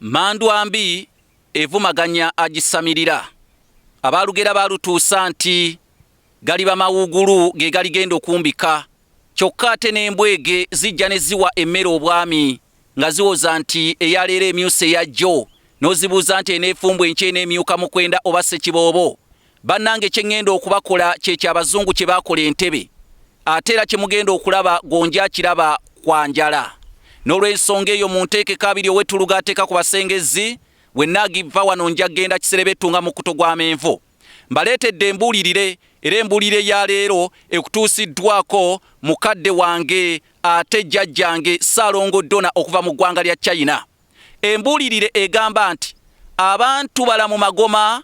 Mmandwa mbi evumaganya agisamirira. Abaalugera baalutuusa nti galiba mawuugulu ge galigenda okumbika. Kyokka ate n'embwege zijja ne ziwa emmere obwami nga ziwoza nti eya leero emyuse eya jjo n'ozibuuza nti eneefumbwa enkya eneemyuka mukwenda oba ssekiboobo? Bannange kye ŋŋenda okubakola kye kya Bazungu kye baakola Entebe, ate era kye mugenda okulaba Gonja akiraba kwa njala. N'olwensonga eyo munteekeko abiri ow'ettuluga ateeka ku Basengezzi, bwe nnaagivva wano nja kugenda Kiserebettu nga mukkuto gwa menvu. Mbaleetedde embuulirire era embuulirire ya leero ekutuusiddwaako mukadde wange ate jjajjange Ssaalongo Dona okuva mu ggwanga lya China. Embuulirire egamba nti, Abantu balamu magoma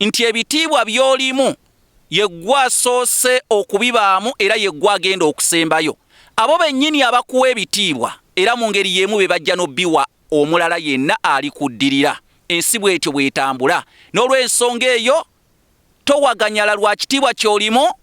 nti ebitiibwa by'olimu ye ggwe asoose okubibaamu era ye ggwe agenda okusembayo. Abo bennyini abakuwa ebitiibwa era mu ngeri y'emu be bajja n'obiwa omulala yenna alikuddirira. Ensi bw'etyo bw'etambula. N'olwensonga eyo towaganyala lwa kitiibwa ky'olimu.